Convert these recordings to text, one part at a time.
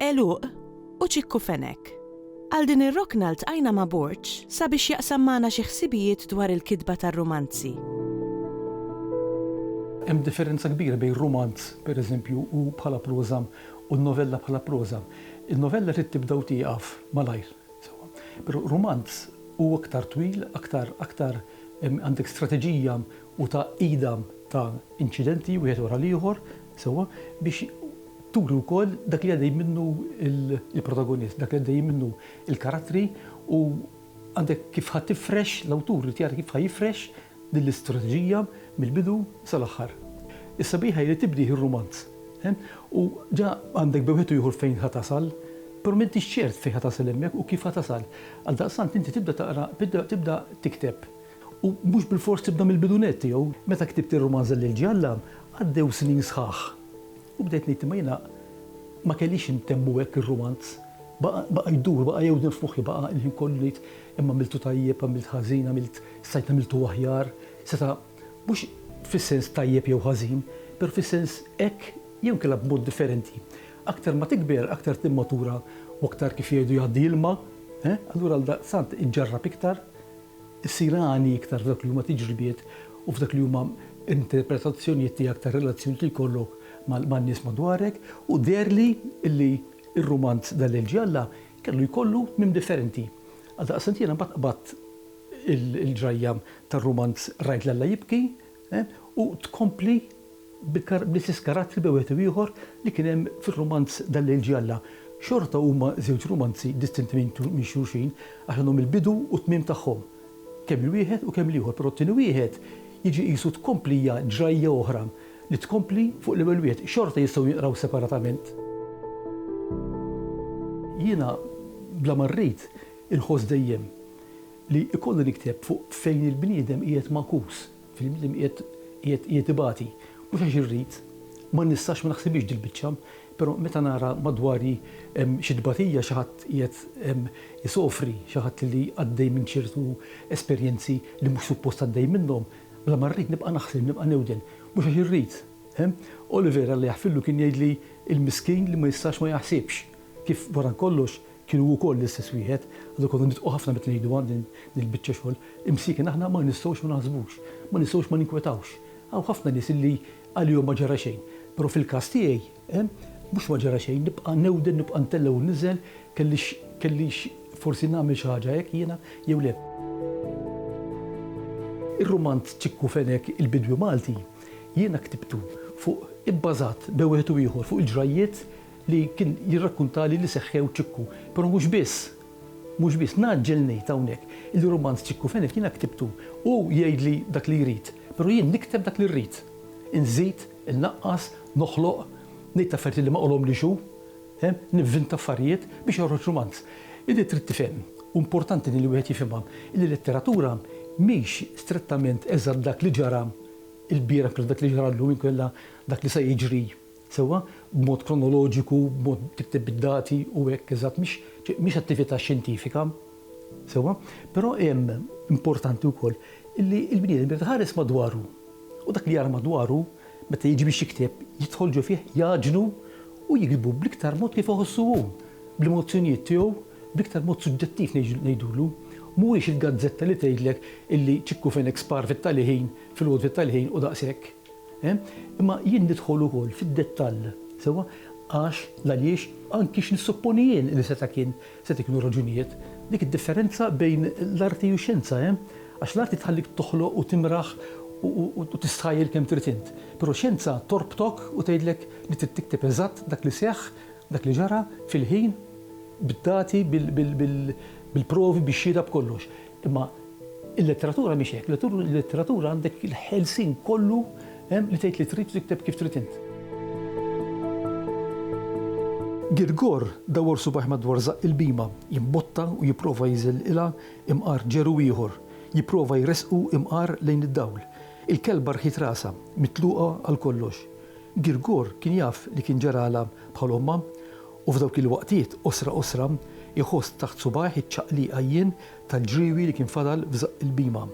Għeluq u ċikku fenek. Għal din ir-rokna ltqajna ma' Borg sabiex jaqsam magħna xi ħsibijiet dwar il-kitba tar-rumanzi. Hemm differenza kbira bejn rumanz, per eżempju, u bħala proża u novella bħala proża. Il-novella trid tibda u tieqaf malajr, sewwa. Però rumanz hu aktar twil, aktar, aktar għandek strateġija u tgħaqqida ta' inċidenti wieħed wara l-ieħor sewwa biex turi wkoll dak li għaddej minnu l-protagonist, dak li għaddejjin minnu l-karattri u għandek kif ħa tifrex, l-awtur irid jara kif ħa jifrex din l-istrateġija mill-bidu sal-aħħar. Is-sabiħ hi li tibdih ir-rumanz u ġa għandek bejn wieħed u ieħor fejn ħa tasal, però m'intix ċert fejn ħa tasal hemmhekk u kif ħa tasal. Għaldaqstant inti tibda taqra, tibda tikteb U mhux bilfors tibda mill-bidu nett tiegħu. Meta ktibt ir-rumanza lil Ġalla, għaddew snin sħaħ u bdejt ngħid imma jiena ma kellix intemmu hekk ir-rumanz. Baqa' baqa' jdur, baqa' jewden f'moħħi, baqa' il-ħin kollu ngħid imma għamiltu tajjeb, għamilt ħażin, għamilt stajt għamiltu aħjar. Seta' mhux fis-sens tajjeb jew ħażin, però fis-sens hekk jew inkella b'mod differenti. Aktar ma tikber, aktar timmatura u aktar kif jgħidu jgħaddi ilma, eh, allura għaldaqstant iġġarrab iktar issir għani iktar f'dawk li huma tiġribiet u f'dak li huma interpretazzjonijiet tiegħek tar-relazzjonijiet li jkollok man-nies madwarek u deherli li r-rumanz Dan Lejl Ġie Alla kellu jkollu tmiem differenti. Għaldaqstant jiena mbagħad qbadt il-ġrajja tar-rumanz Rajt 'l Alla Jibki U tkompli bl-istess karattri bejn wieħed u ieħor li kien hemm fir-rumanz Dan Lejl Ġie Alla. Xorta huma żewġ rumanzi distinti minn xulxin għax għandhom il-bidu u t-tmiem tagħhom, kemm il-wieħed u kemm l-ieħor, però t-tieni wieħed jiġi qisu tkomplija, ġrajja oħra li tkompli fuq l-ewwel wieħed. Xorta jistgħu jinqraw separatament. Jiena bla ma rrid inħoss dejjem. li jkollu nikteb fuq fejn il-bniedem qiegħed magħkus, fejn il-bniedem qiegħed qiegħed qiegħed ibati. Mhux għax irrid, ma nistax, ma naħsibhiex dil-biċċa, però meta nara madwari xi tbatija, xi ħadd qiegħed isofri, xi ħadd li għaddej minn ċertu esperjenzi li mhux suppost għaddej minnhom, bla ma rrid nibqa' naħseb, nibqa' newden. Mhux għax irrid. Oliver, Alla jaħfirlu, kien jgħidli, il-miskin li ma jistax ma jaħsibx, kif wara kollox, Kien hu wkoll l-istess wieħed, għadu konna nitqu ħafna meta ngħiduha din il-biċċa xogħol, imsieken aħna ma nistgħux ma naħsbux, ma nistgħux ma ninkwetawx. Hawn ħafna nies illi għalihom ma ġara xejn, però fil-każ tiegħi, ehm, mhux ma ġara xejn, nibqa' newden, nibqa' ntella' u nniżel, kellix, kellix forsi nagħmel xi ħaġa hekk jiena jew le. Ir-rumanz Ċikku Fenek, il-Bidwi Malti, jiena ktibtu fuq, ibbażat bejn wieħed u ieħor, fuq il-ġrajjiet li kien jirrakkuntali li seħħew Ċikku. Però mhux biss, mhux biss, ngħaġġel ngħid hawnhekk illi rumanz Ċikku Fenech jiena ktibtu. Hu jgħidli dak li jrid, però jien nikteb dak li rrid. Inżid, innaqqas, noħloq, ngħid affarijiet li ma qalhomlix hu, nivvinta affarijiet biex joħroġ rumanz. Illi trid tifhem, u importanti li wieħed jifhimha, illi l-letteratura mhix strettament eżatt dak li ġara lbieraħ inkella dak li ġara llum inkella dak li se jiġri Sewwa, b'mod kronoloġiku, b'mod tikteb bid-dati u hekk, eżatt, mhix, mhix attività xjentifika. Sewwa? Però hemm, importanti wkoll, illi l-bniedem irid iħares madwaru. U dak li jara madwaru, meta jiġi biex jikteb, jidħol ġo fih, jgħaġnu u jiktbu bl-iktar mod kif iħossu hu, bl-emozzjonijiet tiegħu, bl-iktar mod suġġettiv ngħidulu. Mhuwiex il-gazzetta li tgħidlek illi ċikku fejn hekk spar fit-tal-iħin, fil-għod fit-tal-iħin u daqshekk. Imma jien nidħol ukoll fid-dettall, sewwa, għax, l-għaliex, anki x'nissupponi jien li seta' kien, seta' jkunu raġunijiet. Dik id-differenza bejn l-arti u x-xjenza, eh? Għax l-arti tħallik toħloq u timraħ u tistħajjel kemm trid int. Però x-xjenza torbtok u tgħidlek li trid tikteb eżatt dak li seħħ, dak li ġara, fil-ħin, bid-dati, bil-provi, bix-xhieda, b'kollox. Imma il-letteratura mhix hekk, il-letteratura għandek il-ħelsien kollu li tgħid li trid u tikteb kif trid int. Girgor dawwar subajh madwar żaqq il-bhima, jimbotta u jipprova jiżelqilha imqar ġeru ieħor, jipprova jressqu imqar lejn id-dawl. Il-kelba rħiet rasha, mitluqa għal kollox. Girgor kien jaf li kien ġaralha bħal ommha U f'dawk il-waqtiet, qosra qosra, iħoss taħt subgħajh iċ-ċaqliq għajjien tal-ġriewi li kien fadal f'żaqq il-bhima.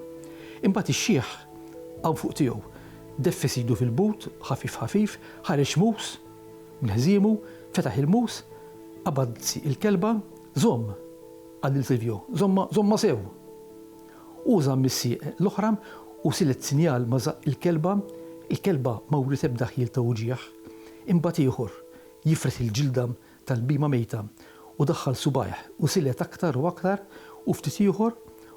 Imbagħad ix-xiħ qam fuq tiegħu. Deffes idu fil-but, ħafif ħafif, ħareġ mus minn ħżiemu, fetaħ il-mus, qabad il-kelba, Żomm! qal lil Silvio. Żommha, żommha sew! Hu żamm is-sieq l-oħra u silet sinjal ma' żaqq il-kelba. Il-kelba ma wriet ebda ħjiel ta' uġigħ. Imbagħad ieħor. Jifred il-ġilda tal-bhima mejta u daħħal subgħajh u silet aktar u aktar u ftit ieħor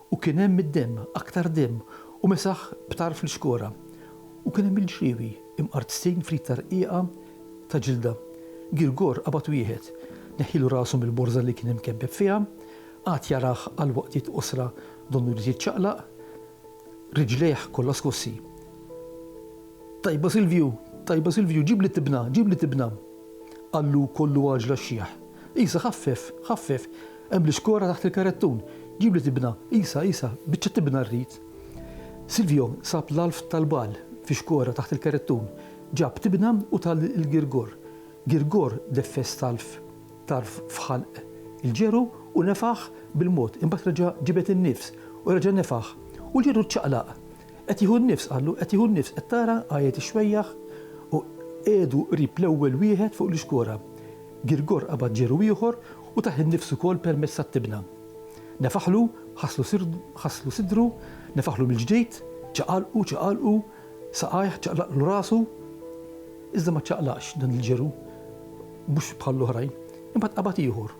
u kien hemm id-demm, aktar demm u mesaħ b'tarf l-ixkora. U kien hemm il-ġriewi imqartztin f'rit ta' rqiqa ta' ġilda. Girgor qabad wieħed, neħħielu rasu mill-borża li kien imkebbeb fiha, qagħad jarah għal waqtiet qosra donnu jrid jiċċaqlaq, riġlejh kollha skossi. Tajba Silvju, tajba Silvju, ġibli tibna, ġibli tibna! qallu kollu għaġla x-xiħ. Isa, ħaffef, ħaffef, hemm l-ixkora taħt il-karettun! Ġibli tibna, Isa, Isa, biċċa tibna rrid! Silvjo sab l-għalf tal-bagħal fi xkora taħt il-karettun, ġab tibna u tah lil Girgor. Girgor deffes talf tarf f'ħalq il-ġeru u nefaħ bil-mod, imbagħad reġa' ġibed in-nifs u reġa' nefaħ u l-ġeru ċċaqlaq. Qed jieħu n-nifs, qallu, qed jieħu n-nifs, qed tara? għajjet ix-xwejjaħ u qiegħdu qrib l-ewwel wieħed fuq l-ixkora. Girgor qabad ġeru ieħor u tah in-nifs ukoll permezz tat-tibna. Nefaħlu, ħasslu sidru, nefaħlu mill-ġdid, ċaqalqu, ċaqalqu saqajh, ċaqlaqlu rasu, iżda ma ċċaqlaqx dan il-ġeru, mhux bħall-oħrajn. Imbagħad qabad ieħor.